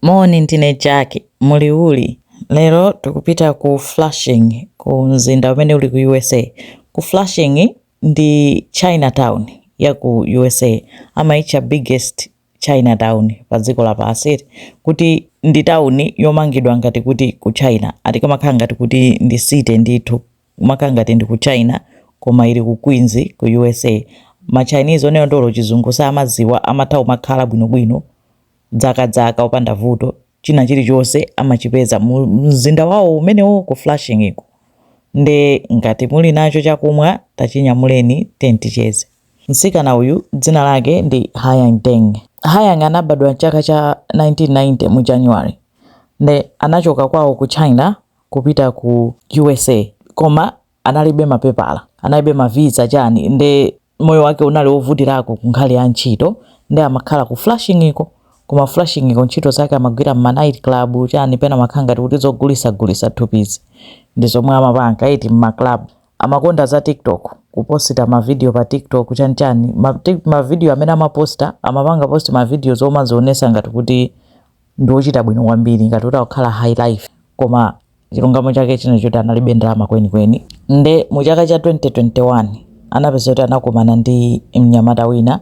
Moni ndine Jack, muli uli? Lero tukupita ku Flushing ku mzinda umene uli ku usa. Ku Flushing ndi Chinatown ya ku usa amaitcha biggest Chinatown pa dziko lapansi kuti ndi town yomangidwa ngati kuti ku China ati kamakhala ngati kuti ndi city ndithu kumakhala ngati ndi ku China koma ili ku Queens ku usa. Ma Chinese oti olo chizungu samadziwa amatha kumakhala bwinobwino. zakazaka opanda vuto china chilichonse amachipeza mu mzinda wawo umenewo ku flushingiko nde ngati muli nacho chakumwa tachinyamuleni ticheze mtsikana uyu dzina lake ndi hayang deng hayang anabadwa mchaka cha 1990 mu january nde anachoka kwawo ku china kupita ku usa koma analibe mapepala analibe mavisa chani nde moyo wake unali wovutirako ku nkhani ya ntchito nde amakhala ku flushingiko koma ku flushingiko ntchito zake amagwira mma night club chani pena amakhala ngati kuti zogulisagulisa thupizi ndi zomwe amapanga eti mma club amakonda za tiktok kuposita mavidiyo pa tiktok chanichani mavidiyo amene amaposta amapanga post mavidiyo omazionesa ngati kuti ndi ochita bwino kwambiri ngati kuti akukhala high life koma chilungamo chake chinali choti analibe ndalama kwenikweni nde mu chaka cha 2021 anapezeka kuti anakumana ndi mnyamata wina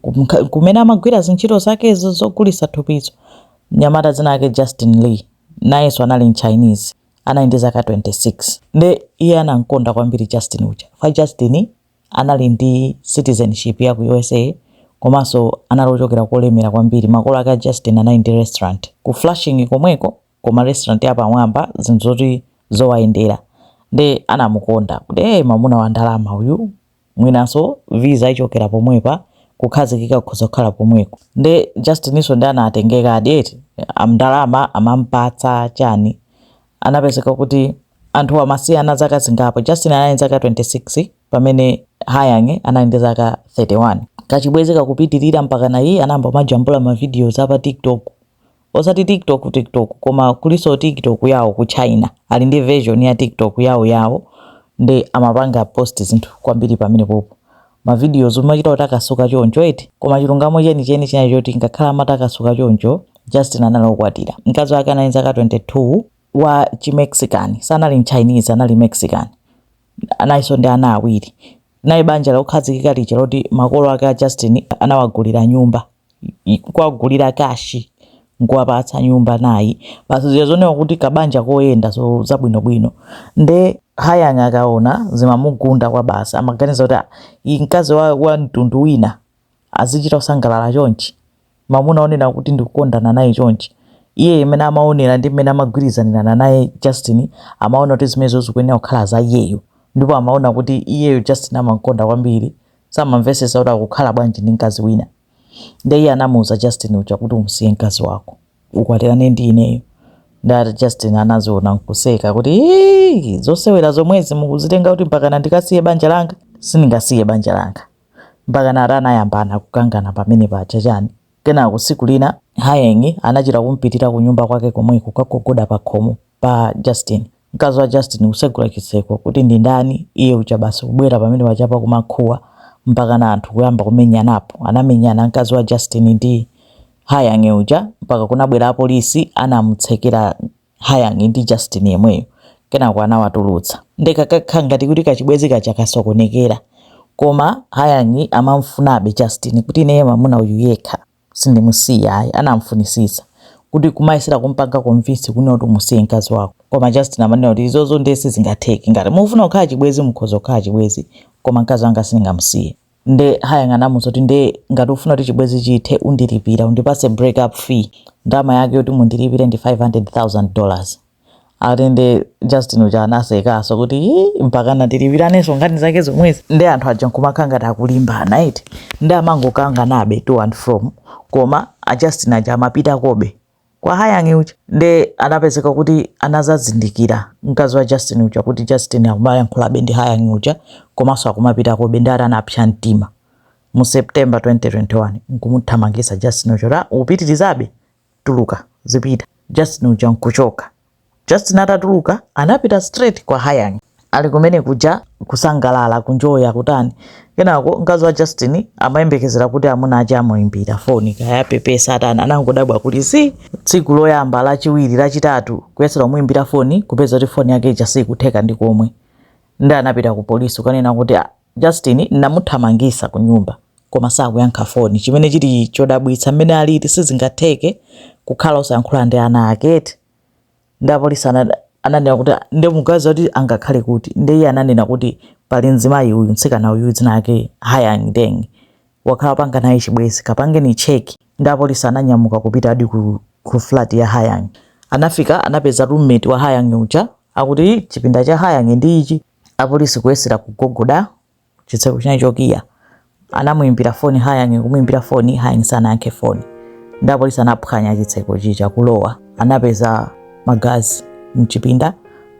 kumka- kumene amagwira zintchito zakezo zogulisa thupizo mnyamata dzina lake justin lee nayenso anali mchinese anali ndi zaka 26 nde iye anamkonda kwambiri justin uja fa justin anali ndi citizenship ya ku usa komanso anali ochokera kolemera kwambiri makolo ake a justin anali ndi restaurant ku flushing komweko koma restaurant yapamwamba zinthu zoti zikuwayendera nde anamukonda kuti hey, mamuna wa ndalama uyu mwinanso visa ichokera pomwepa kukhazikika kukhoza kukhala pomweko nde Justininso nde anatengeka eti ndalama amampatsa chani anapezeka kuti anthu amasiyana zaka zingapo Justin anali ndi zaka 26 pamene Hayang anali ndi zaka 31 kachibwezi kakupitirira mpaka nayenso anayamba kumajambula mavidiyo za pa TikTok osati tiktok tiktok koma kuliso tiktok yawo ku china ali ndi version ya tiktok yawo yawo nde amapanga post zinthu kwambiri pamenepopo mavidiyo omachita kutakasuka choncho eti koma chilungamo chenicheni chinali choti ngakhale amatakasuka choncho justin anali okwatira mkazi wake anali ndi zaka 22 wa chimexican sanali mchinese anali mexican analinso ndi ana awiri. Linali banja lokhazikika lija loti makolo ake a Justin anawagulira nyumba, kuwagulira kashi nkuwapatsa nyumba nayi basi zija zooneka kuti kabanja koyenda so zabwinobwino nde hayang akaona zimamugunda kwabasi amaganiza kuti "Ah, uyu mkazi wa, wa mtundu wina azichita kusangalala chonchi, mamuna wonena kuti ndikukondana naye chonchi, iye mmene amaonera ndi mmene amagwirizanirana naye Justin amaona kuti zimenezo zikuyenera kukhala za iyeyo ndipo amaona kuti iyeyo Justin amamkonda kwambiri samamvetsetsa kuti akukhala bwanji ndi mkazi wina nde iye anamuuza Justin uja kuti umsiye mkazi wako ukwatirane ndi ineyo nde ati Justin anaziona nkuseka kuti zosewera zomwezi mukuzitenga kuti mpakana ndikasiye banja langa sindingasiye banja langa mpakana ati anayambana kukangana pamene paja chani kenako tsiku lina Hayang anachita kumpitira kunyumba kwake komweko kukagogoda pakhomo pa Justin mkazi wa Justin kutsegula chitseko kuti ndi ndani iye uja basi kubwera pamene paja kumakuwa mpakana anthu kuyamba kumenyanapo anamenyana mkazi wa Justin ndi Hayang uja mpaka kunabwera apolisi anamutsekera Hayang ndi Justin yemweyo kenako anawatulutsa nde kakakhala ngati kuti kachibwezi kaja kasokonekera koma Hayang amamfunabe Justin kuti ineye mamuna uyu yekha sindimusiya ayi anamfunisisa kuti kumayesera kumpanga convince kunena kuti umusiye mkazi wako koma Justin amanena kuti izozo nde sizingatheke ngati mufuna kukhala chibwezi mukhoza kukhala chibwezi koma mkazi wanga sindingamusiye nde Hayang anamuuza kuti nde ngati ufuna kuti chibwezi chithe undilipira undipase break up fee ndalama yake yoti mundilipire ndi 500000 dollars ati nde justin uja anasekaso kuti "Ii, mpaka nde tilipiraneso nkhani zake zomwezi nde anthu aja nkumakhala ngati akulimbana eti nde amangokanganabe to and from koma a justin aja amapitakobe kwa Hayang uja nde anapezeka kuti anazazindikira mkazi wa Justin uja kuti Justin akumayankhulabe ndi Hayang uja komanso akumapitakobe nde ati anapsa mtima mu September 2021 nkumuthamangisa Justin uja kuti "Ah, upitirizabe tuluka zipita Justin uja nkuchoka Justin atatuluka anapita straight kwa Hayang. Ali kumene kuja kusangalala ku enjoya kutani. Kenako mkazi wa Justin amayembekezera kuti amuna aja amuimbira foni kaya apepesa atani. Anangodabwa kuti si tsiku loyamba, lachiwiri, lachitatu kuyesera kumuimbira foni kupeza kuti foni yake ija sikutheka ndi komwe. Nde anapita ku polisi kukanena kuti Justin namuthamangisa kunyumba koma sakuyankha foni chimene chili chodabwitsa mmene alili sizingatheke kukhala osayankhulana ndi ana ake eti nde apolisi ananena kuti nde muganiza kuti angakhale kuti nde iye ananena kuti pali mzimayi uyu mtsikana uyu dzina lake Hayang Deng wakhala akupanga naye chibwezi kapangeni cheki nde apolisi ananyamuka kupitadi ku, ku flat ya Hayang anafika anapeza roommate wa Hayang uja akuti chipinda cha Hayang ndi ichi Apolisi kuyesera kugogoda chitseko chinali chokiya anamuimbira foni Hayang, kumuimbira foni Hayang sanayankhe foni ndi apolisi anaphwanya chitseko chija kulowa anapeza magazi mchipinda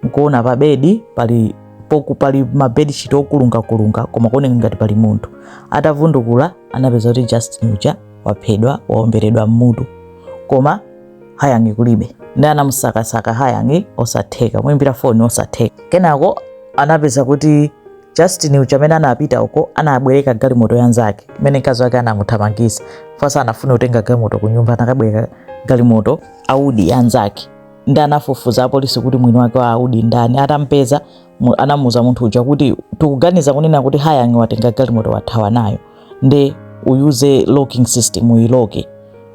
nkuona pa bedi pali pokhu- pali mabedshiti okulungakulunga koma kuoneka ngati pali munthu atavundukula anapeza kuti Justin uja waphedwa waomberedwa mmutu koma hayangi kulibe ndi anamusakasaka hayangi osatheka muimbira foni osatheka kenako anapeza kuti justin uja amene anapita uko anabwereka galimoto yanzake imene mkazi wake anamuthamangitsa pasa anafuna kutenga galimoto ku nyumba anakabwereka galimoto audi yanzake ndi anafufuza apolisi kuti mwini wake wa audi ndani atampeza mu- anamuuza munthu uja kuti tikuganiza kunena kuti hayangi watenga galimoto wathawa nayo nde uyuze locking system uyiloke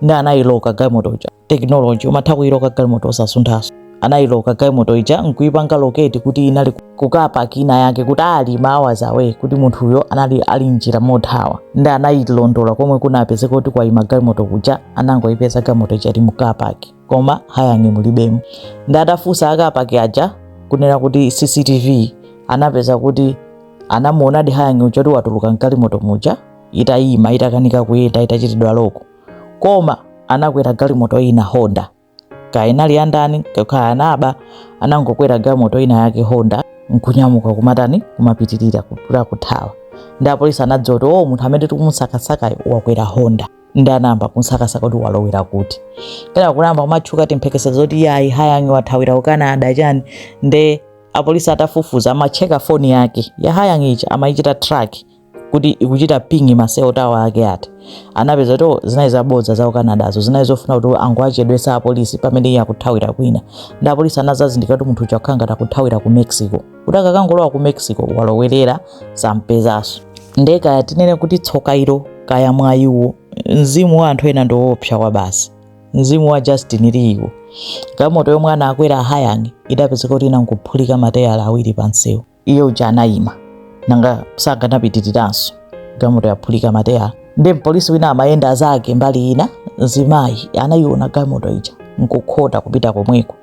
nde anayiloka galimoto uja technology umatha kuyiloka galimoto osasunthaso anayiloka galimoto ija nkuyipanga locate kuti inali kukapaki ina yake kuti ali hours away kuti munthuyo anali ali mnjira mothawa nde anayilondola komwe kunapezeka kuti kwayima galimoto kuja anangoyipeza galimoto ija ili mukapaki koma hayang'i mulibemo ndi atafunsa akapaki aja kunena kuti cctv anapeza kuti anamuonadi hayang'i uja kuti watuluka mgalimoto muja itayima itakanika kuyenda itachitidwa lock koma anakwera galimoto ina honda kaya inali yandani kaya anaba anangokwera galimoto ina yake honda nkunyamuka kumatani kumapitirira kupita kuthawa ndi apolisi anadziwa kuti o munthu amene tikumusakasakayo wakwera honda ndi anayamba kumsakasaka kuti walowera kuti kenako kunayamba kumatchuka timphekesera zoti yayi hayangi wathawira ku canada chani nde apolisi atafufuza amacheka foni yake ya hayangi ija amayichita track kuti ikuchita ping ma cell tower ake ati anapeza kuti zinali zabodza za ku canadazo zinali zofuna kuti angowachedwesa apolisi pamene iye akuthawira kwina ndi apolisi anazazindikira kuti munthu uja akukhala ngati akuthawira ku mexico kuti akakangolowa ku mexico walowerera sampezanso nde kaya tinene kuti tsoka ilo kaya mwayiwo mzimu wa anthu ena ndiwoopsa kwabasi mzimu wa justin Lee-wo galimoto yomwe anakwera ahayani idapezeka kuti inangophulika mateyala awiri pansewu iye uja anayima nanga sakanapitiriranso galimoto yaphulika mateyala nde mpolisi wina amayenda zake mbali ina mzimayi anayiona galimoto ija nkukhota kupita komweko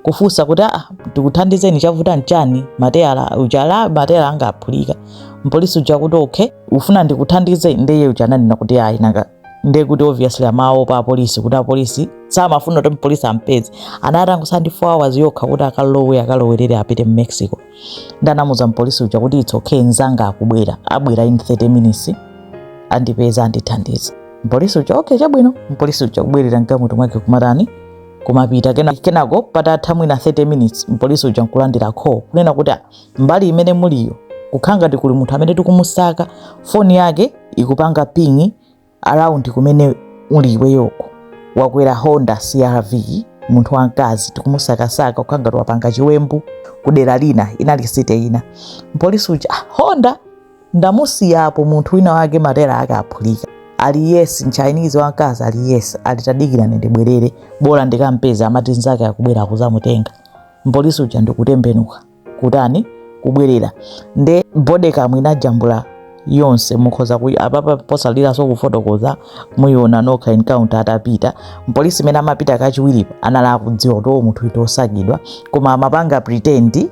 kufunsa kuti aa tikuthandizeni chavuta nchani mateyala ujala mateyala anga aphulika mpolisi uja kuti okay ufuna ndikuthandize ndeye uja ananena kuti ayi nanga ndiye kuti obviously amaopa apolisi kuti apolisi samafuna kuti mpolisi ampeze anatangosala ndi 4 hours yokha kuti akalowe akalowerere apite mu mexico ndanamuza mpolisi uja kuti it's okay nzanga akubwera abwera in 30 minutes andipeza andithandize mpolisi uja okay chabwino mpolisi uja kubwerera mgalimoto mwake kumatani kumapita kena kenako patatha mwina 30 minutes mpolisi uja nkulandira call kunena kuti mbali imene muliyo kukhala ngati kuli munthu amene tikumusaka foni yake ikupanga ping around kumene uli iweyoko wakwera honda crv munthu wamkazi tikumusakasaka akukhala ngati wapanga chiwembu kudera lina lake site ina mpolisi uja "Ah, honda ndamusiyapo munthu winawake matayala ake aphulika ali yes mchinese wamkazi ali yes ali tadikirani ndibwerere bola ndikampeza amati nzake akubwera akudzamutenga mpolisi uja ndikutembenuka kutani kubwerera nde bodycam inajambula yonse mukhoza ku apapa posaliranso kufotokoza muyiona nokha encounter atapita mpolisi imene amapita kachiwiripo anali akudziwa kuti munthu uyu ndi osakidwa koma amapanga pretend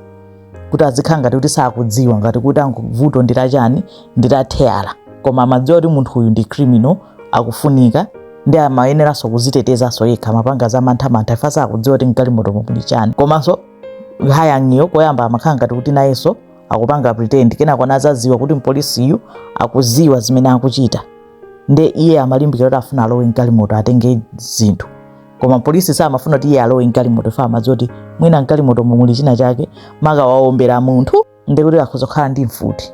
kuti azikhala ngati kuti sakudziwa ngati kuti amvekere vuto ndi lachani ndi la theyala koma amadziwa kuti munthu uyu ndi criminal akufunika ndi amayeneranso kuzitetezanso yekha amapanga za manthamantha ifa sakudziwa kuti mgalimoto muli chani komanso hayangiyo koyamba amakhala ngati kuti nayenso akupanga pretend kenako anazaziwa kuti mpolisiyu akuziwa zimene akuchita nde iye amalimbikira kuti afuna alowe mgalimoto atenge zinthu koma polisi samafuna kuti iye alowe mgalimoto fa amadziwa kuti mwina mgalimoto muli china chake ngati waombera munthu nde kuti akhoza kukhala ndi mfuti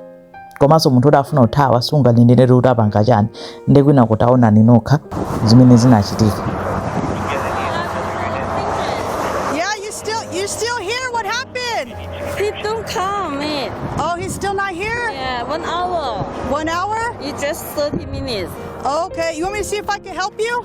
komanso munthu oti afuna kuthawa sunganenere kuti apanga chani nde kwinaku taonani nokha zimene zinachitika Yeah, you still you still here? What happened? He don't come, man. Oh, he's still not here. Yeah, one hour. One hour? It's just 30 minutes. Okay. You want me to see if I can help you?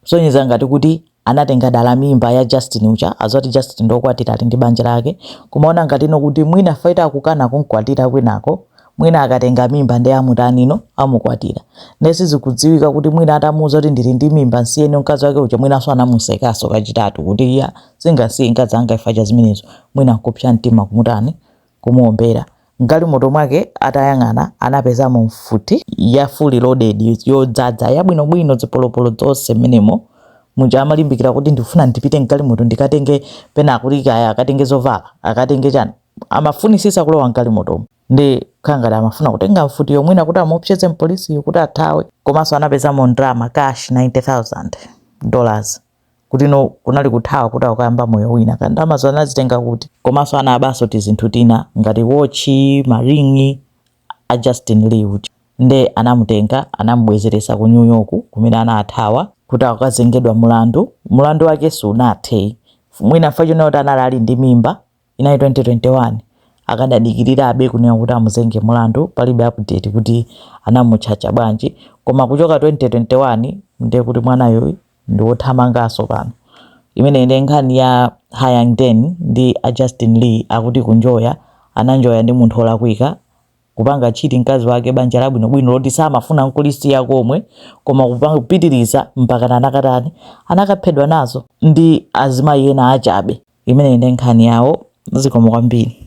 kusonyeza ngati kuti anatenga dala mimba ya Justin uja akudziwa zoti Justin ndokwatira ali ndi banja lake kumaona ngati ino kuti mwina fa akukana kumkwatira kwinako mwina akatenga mimba nde amutani no amukwatira nde sizikudziwika kuti mwina atamuuza kuti ndili ndi mimba nsiyeni mkazi wake uja mwinanso anamusekaso kachitatu kuti iya sindingasiye mkazi anga ifa cha zimenezo mwina kupsa mtima kumutani kumuwombera. M'galimoto mwake atayang'ana, anapezamo mfuti ya fully loaded, yodzadza, yabwinobwino, zipolopolo zonse mmenemo. Muja amalimbikira kuti, Ndikufuna ndipite m'galimoto ndikatenge pena akuti kaya akatenge zovala, akatenge chani. Amafunitsitsa kulowa m'galimotomo. Nde kukhala ngati amafuna kutenga mfutiyo mwina kuti amuopseze mpolisiyo kuti athawe. Komanso anapezamo ndalama, cash 90,000 dollars. kuti no kunali kuthawa kuti akukayamba moyo wina kaya ndalamazo anazitenga kuti komanso anabanso tizinthu tina ngati wotchi maring'i a justin lee uja nde anamutenga anamubwezeretsa ku new york kumene anathawa kuti akukazengedwa mulandu mulandu wake sunathe mwina fa chonena kuti anali ali ndi mimba inayi 2021 akadadikirirabe kunena kuti amuzenge mulandu palibe update kuti anamutchacha bwanji koma kuchoka 2021 ndiye kuti mwanayo ndiwothamanganso pano imeneyi ndi nkhani ya hayang den ndi a justin lee akuti kunjoya ananjoya ndi munthu olakwika kupanga cheat mkazi wake banja labwinobwino loti samafuna nkulisiya komwe koma kupanga kupitiriza mpaka anakatani anakaphedwa nazo ndi azimayi ena achabe imeneyi ndi nkhani yawo zikomo kwambiri